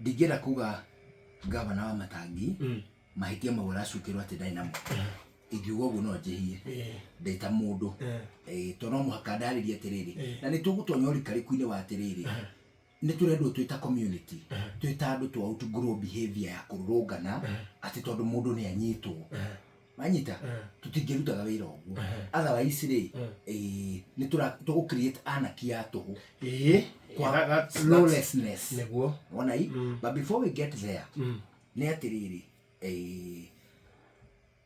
Ndingĩenda kuga ngavana wa Matangi mahĩtia mau aracukĩrwo atĩ ndarĩ namo. Ingiuga ũguo no njĩhie ndĩ ta mũndũ. Ĩĩ tondũ no mũhaka ndarĩrie atĩrĩrĩ, na nĩ tũgũtonya ũrikarĩku-inĩ wa atĩrĩrĩ, nĩ tũrendwo twĩ ta community, twĩ ta andũ to out grow behaviour ya kũrũrũngana atĩ tondũ mũndũ nĩ anyitwo. manyita tũtingĩrutaga wĩra ũguo otherwise rĩ eh, nĩ tũra- tũgũ create anarchy ya tũhũ ĩĩ Kwa- that- that's- that's- lawlessness. nĩguo wona i but before we get there nĩ atĩrĩrĩ eh,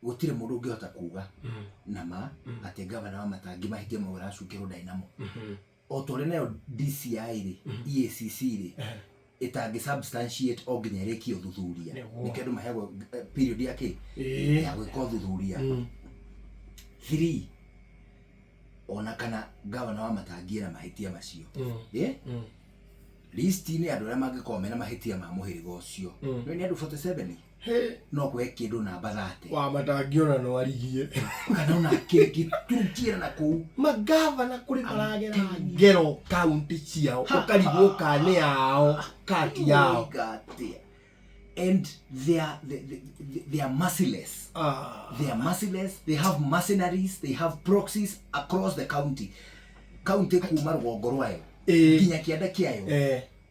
gũtirĩ mũndũ ũngĩhota kuga na ma atĩ ngavana wa matangi mahĩtia mau aracukĩrwo ndaĩ namo O ta ũrĩa nayo DCI rĩ, EACC rĩ, ĩtangĩ substantiate o nginya ĩrĩkie ũthuthuria. Nĩguo. Nĩkĩo andũ maheagwo eh, period ya kĩ? Ĩĩ. Ya gwĩka ũthuthuria. Three, ona kana gavana wa matangie na mahĩtia macio. Ĩ? List-inĩ ya andũ arĩa mangĩkorwo mena mahĩtia ma mũhĩrĩga ũcio. Nĩ nĩ andũ 47? Hĩ, no kũhe kĩndũ namba 30. Wa matangĩona no arigie. Kana ona kĩngĩ tũrutiĩra na kũu. Mangavana kũrĩ maragera thĩ. Ngero kaunti ciao. Ũkarigwo ka nĩ yao ka ti yao. And they are, they, they, they are merciless. Ah. They are merciless. They have mercenaries. They have proxies across the county. County kuma rũgongo rwayo. Eh. Nginya kĩanda kĩayo. Eh.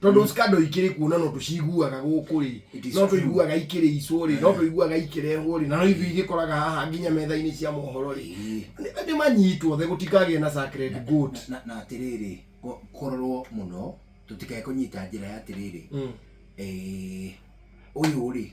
tondå mm. scandal ikiri kuona no tuciguaga guku ri no tuiguaga ikiri icwo ri no eh. tuiguaga ikirehwo ri na no ithui gikoraga haha nginya metha-ini cia mohoro ri ni manyitwo the gutikagie na sacred goat na atiriri kororwo muno tutikae kunyita njira ya atiriri mm. eh, uyu ri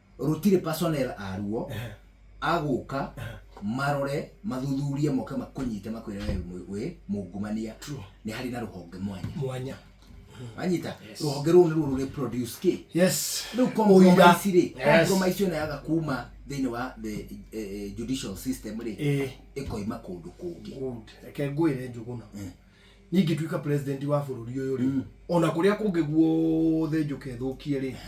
rũtirĩ personnel a ruo Ehe. agũka marore mathuthurie moke makũnyite makwĩre we wĩ- wĩ mungumania True. nĩ harĩ na rũhonge mwanya mwanya wanyita rũhonge rũu nĩruo rũrĩ produce kĩ yes rĩu Ũira. compromise rĩ Yes. compromise ĩno yaga kuma thĩinĩ wa the eh, eh, judicial system rĩ Ĩĩ. ĩkoima kũndũ kũngĩ Good. reke ngwĩre njũgũna niĩ ingĩtuĩka president wa bũrũri ũyũ rĩ ona kũrĩa kũngĩ guothe njũke thũkie rĩ